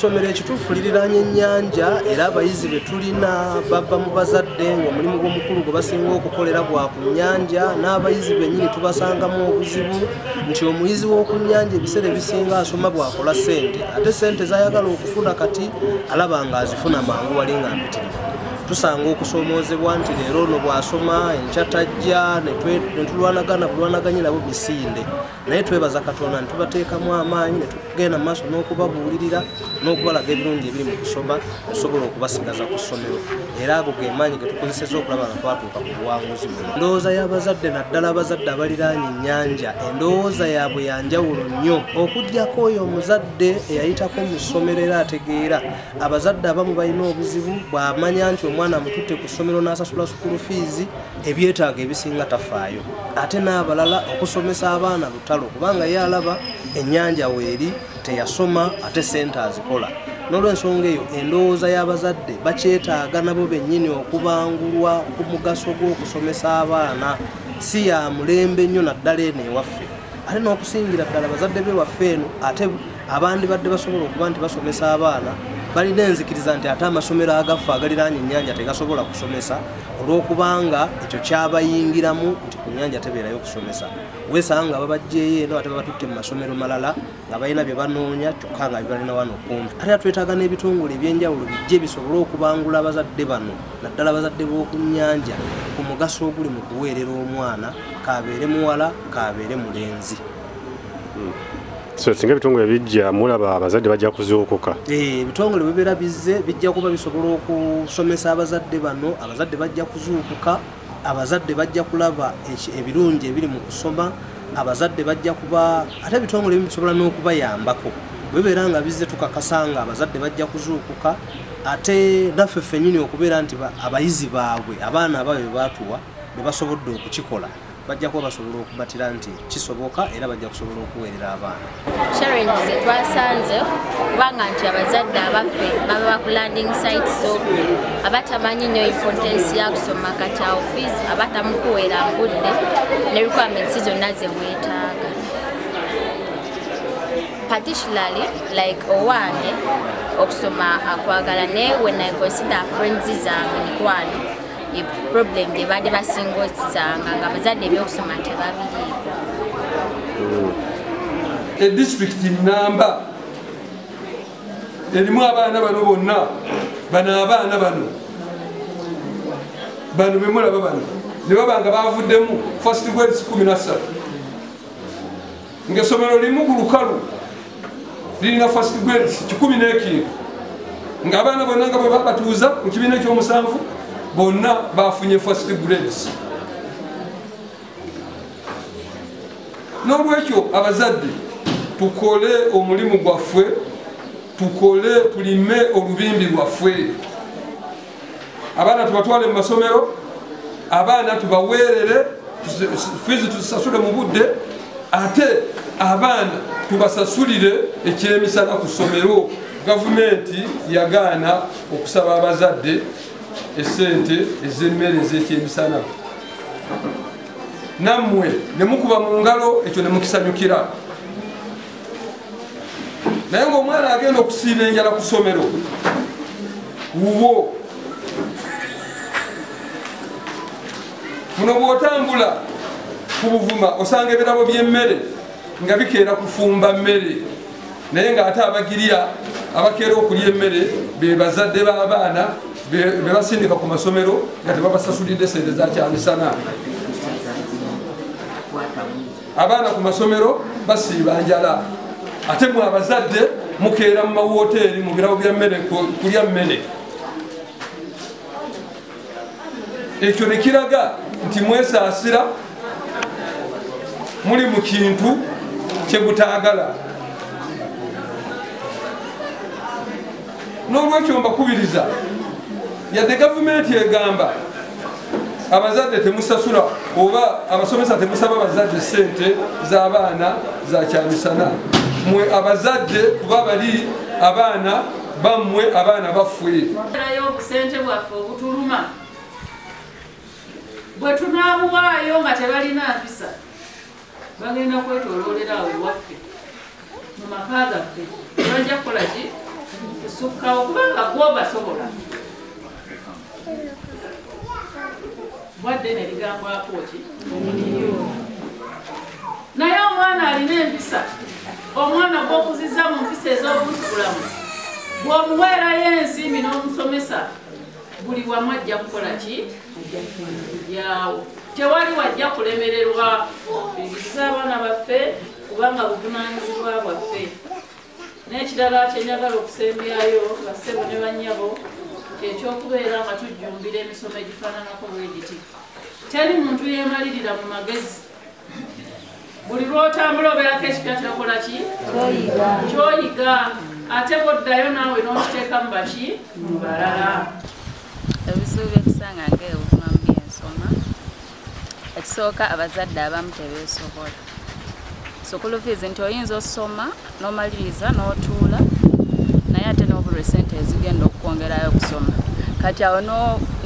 Somero ekituufu liriraanye ennyanja era abayizi be tulina bava mu bazadde ng'omulimu gw'omukulu gwe basinga okukolera gwa ku nnyanja n'abayizi bennyini tubasangamu obuzibu nti omuyizi w'oku nnyanja ebiseera ebisinga asoma bw'akola ssente ate ssente z'ayagala okufuna kati alaba ng'azifuna mangu wali nga mpitirivu tusanga okusoomoozebwa nti leero ono bw'asoma enkya tajja ne tulwanagana bulwanaganye nabo misinde naye twebaza katonda netubateekamu amaanyi netugenda maaso n'okubabuulirira n'okubalaga ebirungi ebiri mu kusoma osobola okubasigaza ku ssomero era ago ge maanyi getukozeseza okulaba nga twatuuka ku buwanguzi buno endowooza y'abazadde naddala abazadde abaliraanye ennyanja endowooza yaabwe yanjawulo nnyo okugyako oyo omuzadde eyayitako mu ssomero era ategeera abazadde abamu balina obuzibu bw'amanya nti omwana amututte ku ssomero n'asasula sukulu fiizi ebyetaago ebisinga tafaayo ate n'abalala okusomesa abaana lutalo kubanga ye alaba ennyanja weeri teyasoma ate sente azikola n'olwensonga eyo endowooza y'abazadde bakyetaaga nabo bennyini okubangulwa ku mugaso gw'okusomesa abaana si ya mulembe nnyo naddala eno ewaffe ate n'okusingira ddala bazadde be waffe eno ate abandibadde basobola okuba nti basomesa abaana balina enzikiriza nti ate amasomero agafa agaliraanya ennyanja tegasobola kusomesa olwokubanga ekyo kyabayingiramu nti ku nyanja tebeerayo okusomesa wesanga nga babajjeeyo eno ate babatutte mu masomero malala nga balina bye banoonya kyokka nga bibalina wano kumpi ate twetaaga n'ebitongole ebyenjawulo bijje bisobole okubangula abazadde bano naddala abazadde b'oku nyanja ku mugaso oguli mu kuweerera omwana kabeere muwala kabeere mulenzi hmm. so singa ebitongole bijja mulaba abazadde bajja kuzuukuka eh, ebitongole bibeera bizze bijja kuba bisobola okusomesa abazadde bano abazadde bajja kuzuukuka abazadde bajja kulaba ebirungi ebiri mu kusoma abazadde bajja kuba ate ebitongole bimu bisobola n'okubayambako bwebeera nga bizze tukakasa nga abazadde bajja kuzuukuka ate naffe ffenyini okubeera nti abayizi baabwe abaana abaabwe bebatuwa bebasobodde okukikola bajja kuba basobola okubatira nti kisoboka era bajja kusobola okuweerera abaana challenge ze twasanze kubanga nti abazadde abaffe baba bakulanding site so abatamanyi nnyo importance ya kusoma kati awo fees abatamukuweera ngudde ne requirements zonna ze weetaaga particularly like owange okusoma akwagala naye when i consider friends zange mikwano ye problem gye baali basinga okisanga nga bazadde ebyokusoma tebabiriiko e disitulikiti namba erimu abaana bano bonna bano abaana bano bano bemulaba bano ne baba nga bavuddemu first grades kumi nassatu ng'essomero limu ku lukalu lirina first grades kikumi n'ekintu ng'abaana bonna nga bwe babatuuza mu kibiina ekyomusanvu bonna bafunye first grades n'olwekyo abazadde tukole omulimu gwaffe tukole tulime olubimbi lwaffe abaana tubatwale mu masomero abaana tubaweerere fiizi tuzisasule mu budde ate abaana tubasasulire ekyemisana ku ssomero gavumenti yagaana okusaba abazadde esente ezemmere ezekyemisana nammwe nemukuba mu ngalo ekyo nemukisanyukira naye ngaomwana agenda okusiiba enjala ku somero wuwo muno bwotambula ku buvuma osanga ebirabo byemmere nga bikeera kufumba mmere naye ngaate abagirya abakeera okulya emmere bebazadde b'abaana bebasindika ku masomero nga tebabasasulidde sente zakyamisana abaana ku masomero basiiba njala ate mwe abazadde mukeera mu mawoteeri mu birabo bya mmere kulya mmere ekyo ne kiraga nti mwesaasira muli mu kintu kye mutaagala n'olwekyo mbakubiriza yadde gavumenti egamba abazadde temusasula oba abasomesa temusaba abazadde sente zabaana zakyamisana mwe abazadde kuba bali abaana bamwe abaana bafweobusente bwaffe obutuluma bwetunabuwaayo nga tebalina mpisa bagenda kwetoloolera awo ewaffe mu maka gaffe bajja kukola ki kusukkawo kubanga gwo basobola bwadde ne ligambwako ki naye omwana alina empisa omwana gwokuziza mu mpisa ez'obuntubulamu bwomuweerayo ensimbi n'omusomesa buli wamu ajja kukola ki yawo tewali wajja kulemererwa bigisa abaana baffe kubanga buvunanyizibwa bwaffe n'ekirala kyenjagala okusembyayo bassebo ne bannyabo kyekyokubeera nga tujjumbira emisomo egifaananako bwegiti teri muntu yeemalirira mu magezi buli lwotambula obeerako ekipya kyokola ki kyoyiga ate bwoddayo naawe nokiteeka mu baki mu balala ebizibu byekusanga nga ebuvuma mu byensoma ekisooka abazadde abamu tebeesobola sukulufiizi nti oyinza osoma nomaliriza notuula naye ate nobulwa esente ezigenda okukwongerayo okusoma kati awo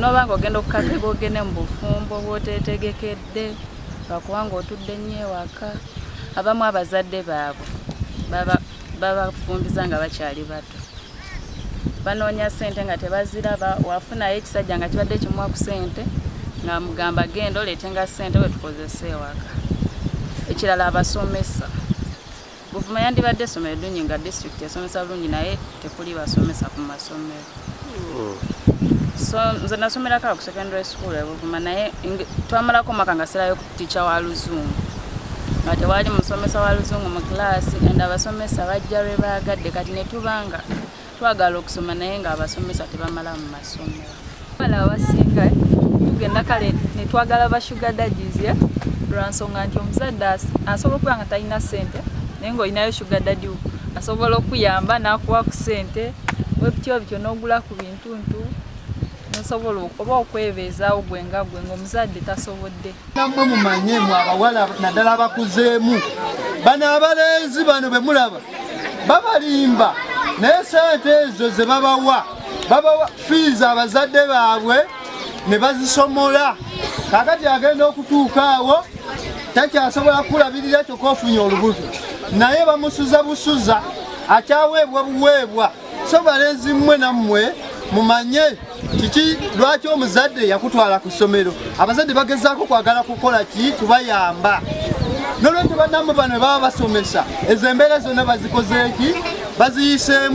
noba nga ogenda okukakega ogende mu bufumbo bwotetegekedde bazadde lwakuba nga otudde nnyo ewaka abamu abazadde baabwe babafumbiza nga bakyali bato banoonya ssente nga tebaziraba wafunayo ekisajja nga kibadde kimuwa ku ssente nga mugamba genda oleete nga ssente wetukozesa ewaka ekirala abasomesa Buvuma yandibadde essomero ddungi nga disitulikiti esomesa bulungi naye tekuli basomesa ku masomero. Hmm. So nze nasomerako awo ku secondary school e Buvuma naye twamalako omwaka nga sirayo ku ticha wa luzungu nga tewaali musomesa wa luzungu mu kilaasi and abasomesa bajja lwe baagadde kati ne tubanga twagala okusoma naye nga abasomesa tebamala mu masomero bala abasinga eh? tugenda kale netwagala ba sugar daddies eh? lwansonga nti omuzadde asobola okuba nga talina sente naye ngaolinayo sugar daddy asobola okuyamba nakuwa ku sente webityo bityo nogula ku bintuntu nosobola oba okwebeezaawo gwe nga gwe ngaomuzadde tasobodde namwe mumanye mwe abawala naddala abakuzeemu bano abalenzi bano be mulaba babalimba naye sente ezo ze babawa babawa fiizi abazadde baabwe ne bazisomola kakati agenda okutuuka awo takyasobola kukulabirira kyokka ofunye olubuto naye bamusuza busuza akyaweebwa buweebwa so balenzi mmwe nammwe mumanye kiki lwaki omuzadde yakutwala ku ssomero abazadde bagezaako kwagala kukola ki kubayamba nolwekyo banamu bano baba basomesa ezo embeera zonna bazikozeeki baziyiseemu